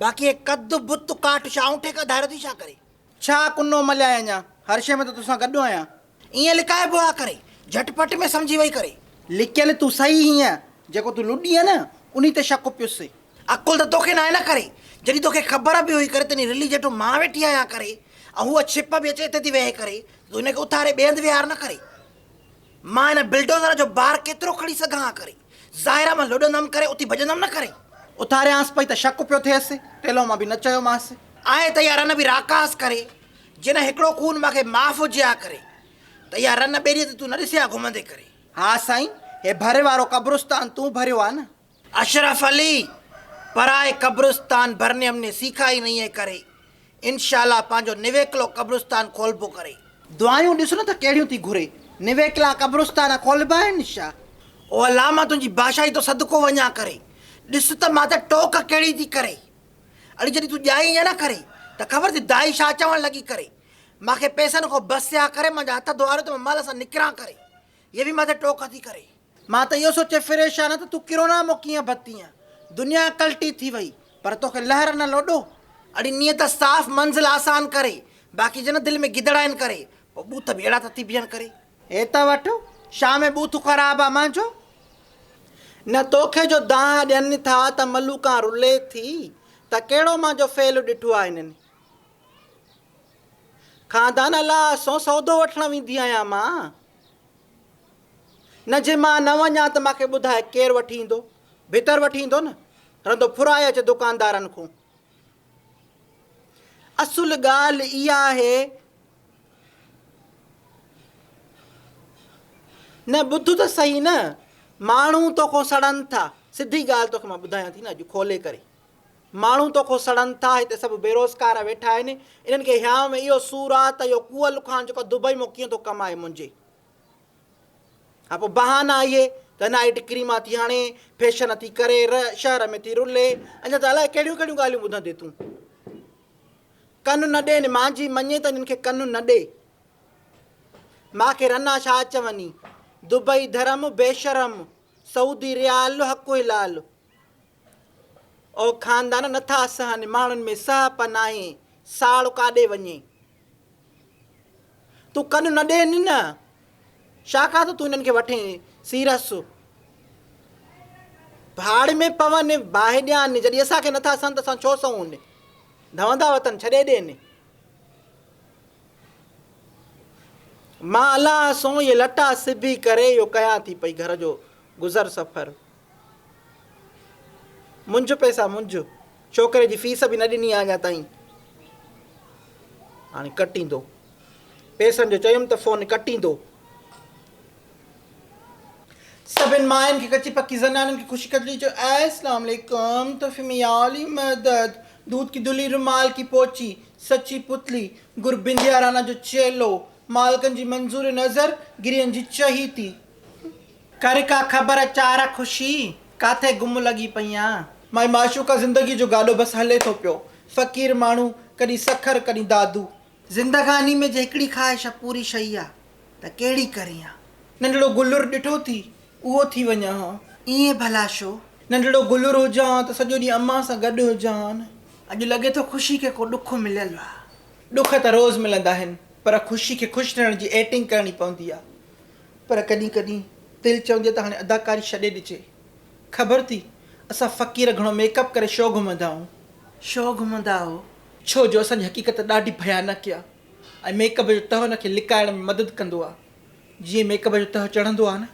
باقي هي ڪڌ بت ڪاٺ شاهه اونٺي کان ڌاريو ٿي ڇا ڪري؟ ڇا ڪنو مليائي اڃا؟ هر شيء ۾ ته توسان گڏ آهيان. ائين لڪائبو آ ڪري. جهٽ پٽ ۾ سمجهي وئي ڪري. لڪيل تون سهي هئين. جيڪو تون لڏينء نه انهي تي شڪ پيس. عقل ته توکي ناهي نه ڪري. جڏهن توکي خبر به هئي ڪري ته انهي رلي جيٺو مان ويٺي آهيان ڪري ۽ هوء ڇپ به اچي اتي ٿي ويهي ڪري ته تون هن کي اٿاري ٻئي هنڌ ويهار نه ڪري. مان هن بلڊوزر جو بار ڪيترو کڻي سگهان ها ڪري. ظاهرا مان لڏندم ڪري اٿي ڀڄندم نه ڪري. اٿاريانس پئي ته شڪ پيو ٿئيس. ٽيلهو مان به نه چيومانس. آهي ته اها رن به راڪاس ڪري. جنهن هڪڙو خون مان کي معاف هجي ها ڪري ته اها رن ٻيلي تي تون نه ڏسي ها گهمندي ڪري. ها سائين هي ڀري وارو قبرستان تون ڀريو ها نه. اشرف علي پرائي قبرستان ڀرني ھم ني سيکا ھي نھين ھي ڪري انشاء الله پنھنجو نويڪلو قبرستان کولبو ڪري. دعايون ڏس نه ته ڪهڙيون ٿي گهري. نويڪلا قبرستان کولبا آهن ڇا؟ او الله مان تنهنجي بادشاهي تو صدقو وڃان ڪري ڏس ته مان تي ٽوڪ ڪهڙي ٿي ڪري اڙي جڏهن تون ڄائي ائين نه ڪري ته خبر ٿي دائي ڇا چوڻ لڳي ڪري مان کي پئسن کان بس آ ڪري مانجا هٿ ڌوئاريو ته مان مال سان نڪران ڪري هيء به مان تي ٽوڪ ٿي ڪري. مان ته اهو سوچي فريشان آهيان ته تون ڪرونا مان ڪيئن بتيئين. دنيا ڪلٽي ٿي وئي، پر توکي لهر نه لوڏو. اڙي نيت صاف منزل آسان ڪري، باقي جنهن دل ۾ گدڙ آهن ڪري، پوء ٻوٿ به اهڙا ٿا ٿي بيهن ڪري. هي ته وٺ شاهه ۾ ٻوٿ خراب آ مانجو. نه توکي جو دانهن ڏين ٿا ته ملوڪان رلي ٿي ته ڪهڙو مانجو فعل ڏٺو آ هنن. خاندان الله سون سودو وٺڻ ويندي آهيان مان. نه جي مان نه وڃان ته مان کي ٻڌاء ڪير وٺي ايندو ڀتر وٺي ايندو نه رندو ڦرائي اچ دڪاندارن کون اصل ڳالهه اها آهي نه ٻڌ ته صحيح نه ماڻهو توکون سڙن ٿا سڌي ڳالهه توکي مان ٻڌايان ٿي نه اڄ کولي ڪري ماڻهو توکو سڙن ٿا، هتي سڀ بيروزگار ويٺا آهن، انهن کي هيانء ۾ اهو سور آ ته اهو ڪوئه لکان جيڪو دبئي مان ڪيئن ٿو ڪمائي منهنجي ها پوء بهانا اهي ته نائيٽ ڪريما ٿي هڻي، فيشن ٿي ڪري، ر شهر ۾ ٿي رلي، اڃا ته الائي ڪهڙيون ڪهڙيون ڳالهيون ٻڌندي تون. ڪن نه ڏين، مانجهي مڃي ته انهن کي ڪن نه ڏي. مان کي رنا ڇا چوني، دبئي ڌرم، بيشرم، سعودي ريال، حق هلال. او خاندان نٿا سهن ماڻهن ۾ سهپ ناهي ساڙ ڪاڏي وڃي تون ڪن نه ڏي نن شاخا ته تون انهن کي وٺي سيرس ڀاڙ ۾ پون باهه ڏيان جڏهن اسان کي نٿا سهن ته اسان ڇو سهون ڌوندا وطن ڇڏي ڏين مان الله سون اهي لٽا سبي ڪري اهو ڪيان ٿي پئي گهر جو گذر سفر منجهه پئسا منجهه، ڇوڪري جي فيس به نه ڏني آ اڃا تائين. هاڻي ڪٽيندو. پئسن جو چيم ته فون ڪٽيندو. سڀن ماين کي ڪچي پڪي زنانن کي خوشي ڪجڻي چيو اي اسلام عليڪم تحفي ۾ يا علي مدد دود ڪي دلي رومال ڪي پوچي سچي پتلي گر بنديا رانا جو چيلو مالڪن جي منظور نظر گرين جي چهيتي ڪر ڪا خبر چاره خوشي، ڪاٿي گم لڳي پئيان. مائي معشوقه زندگي جو گاڏو بس هلي ٿو پيو. فقير ماڻهو ڪڏهن سکر ڪڏهن دادو. زندگاني ۾ جي هڪڙي خواهش پوري شئي آ ته ڪهڙي ڪريان. ننڍڙو گلر ڏٺو ٿي اهو ٿي وڃان هان. ائين ڀلا شو؟ ننڍڙو گلر هجان هان ته سڄو ڏينهن امان سان گڏ هجان هان. اڄ لڳي ٿو خوشي کي ڪو ڏک مليل آ. ڏک ته روز ملندا آهن پر خوشي کي خوش رهڻ جي ايٽنگ ڪرڻي پوندي آ. پر ڪڏهن ڪڏهن دل چوندي ته هاڻي اداڪاري ڇڏي ڏجي. خبر ٿي اسان فقير گهڻو ميڪ اپ ڪري شو گهمندا آهون. شو گهمندا آهو. ڇو جو اسان جي حقيقت ڏاڍي ڀيانڪ آهي ۽ ميڪ اپ جو تهه ان کي لڪائڻ ۾ مدد ڪندو آهي. جيئن ميڪ اپ جو تهه چڙهندو آهي نه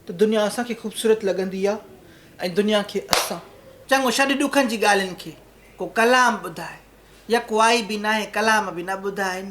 ته دنيا اسان کي خوبصورت لڳندي آهي ۽ دنيا کي اسان. چڱو ڇڏ ڏکن جي ڳالهين کي. ڪو ڪلام ٻڌاء. يڪ وائي به ناهي ڪلام به نه ٻڌائين.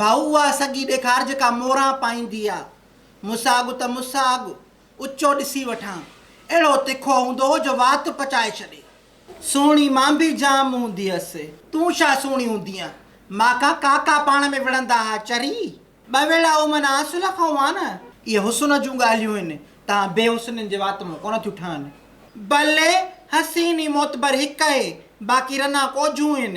ڀائو اها سڳي ڏيکار جيڪا موران پائيندي آ. مون سان اڳ ته مون سان اڳ. اچو ڏسي وٺان. اهڙو تکو هوندو هو جو وات پچائي ڇڏي. سهڻي مان به جام هوندي هيس. تون ڇا سهڻي هوندينء؟ مان کان ڪاڪا پاڻ ۾ وڙهندا ها. چري! ٻه ويڙها او معنيٰ اصل کان هئا نه. اهي حسن جون ڳالهيون هن. توهان بي حسنين جي وات مان ڪونه ٿيون ٺهن. بلي! حسين ۽ معتبر هڪ اهي. باقي رنا ڪوجهون هن.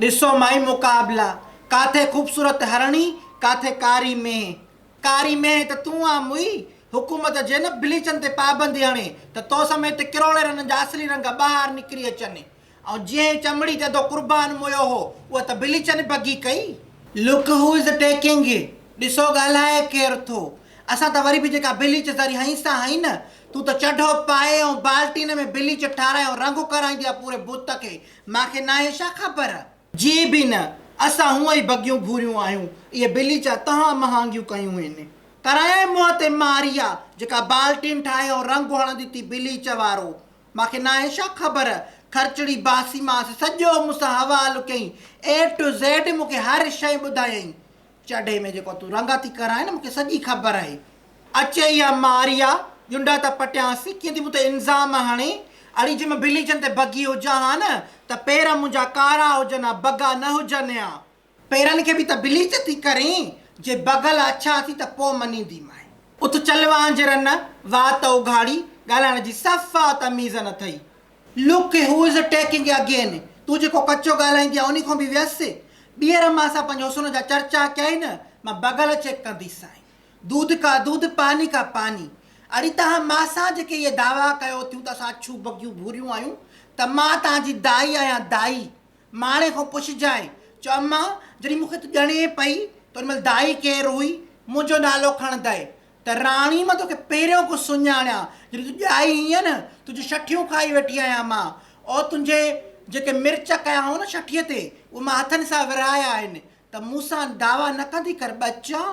ڏسو مائي مقابلا، ڪاٿي خوبصورت هرڻي، ڪاٿي ڪاري مينهن. ڪاري مينهن ته تون آن موئي، حڪومت جي نه بليچن تي پابندي هڻي ته تو سميت ڪروڙين رنن جا اصلي رنگ ٻاهر نڪري اچن. ۽ جنهن چمڙي تي تو قربان موئيو هو، اها ته بليچن بگي ڪئي. Look who is taking it ڏسو ڳالهائي ڪير ٿو. اسان ته وري به جيڪا بليچ ذري هنئين سان هنئين نه، تون ته چڍو پائي ۽ بالٽين ۾ بليچ ٺاراهي ۽ رنگ ڪرائيندي آهي پوري بت کي، مان کي ناهي ڇا خبر؟ جي به نه، اسان هونء ئي بگيون گهوريون آهيون، اهي بليچا تهان مهانگيون ڪيون هين. ڪرايائين منهن تي ماريا، جيڪا بالٽين ٺاهي ۽ رنگ هڻندي ٿي بليچ وارو. مان کي ناهي ڇا خبر؟ خرچڙي باسيمانس سڄو مون سان حوالو ڪيائين، اي ٽو زيڊ مون کي هر شيء ٻڌايائين. چڙهي ۾ جيڪو تون رنگ ٿي ڪرائين مون کي سڄي خبر آهي. اچي اها ماريا جنڊا ته پٽيانس ڪيئن ٿي مون تي الزام هڻي. اڙي جي مان بليچن تي بگهي هجان ها نه ته پير منهنجا ڪارا هجن ها بگا نه هجن ها. پيرن کي به ته بليچ ٿي ڪرين. جي بگل اڇا ٿي ته پوء مڃينديمانء. اٿ چل وانجهرن وات اگهاڙي ڳالهائڻ جي صفا تميز نه اٿئي. Look who is attacking again تون جيڪو ڪچو ڳالهائيندي آهين انهي کان به ويس. ٻيهر مان سان پنهنجي حسن جا چرچا ڪيائين نه مان بغل چيڪ ڪندي سانء. دودھ ڪا دودھ پاني ڪا پاني. اڙي توهان مان سان جيڪي اهي دعويٰ ڪيو ٿيون ته اسان اڇون بگيون ڀوريون آهيون ته مان توهان جي دائي آهيان دائي. ماڻهي کان پڇجانء چؤ امان جڏهن مون کي تون ڄڻين پئي ته ان مهل دائي ڪير هئي؟ منهنجو نالو کڻندء ته راڻي مان توکي پهريون ڪو سڃاڻيان، جڏهن تون ڄائي هئين نه، تنهنجون شٺيون کائي ويٺي آهيان مان، او تنهنجي جيڪي مرچ ڪيا هئائون نه شٺيء تي، اهي مان هٿن سان ورهايا آهن، ته مون سان دعويٰ نه ڪندي ڪر ٻچان!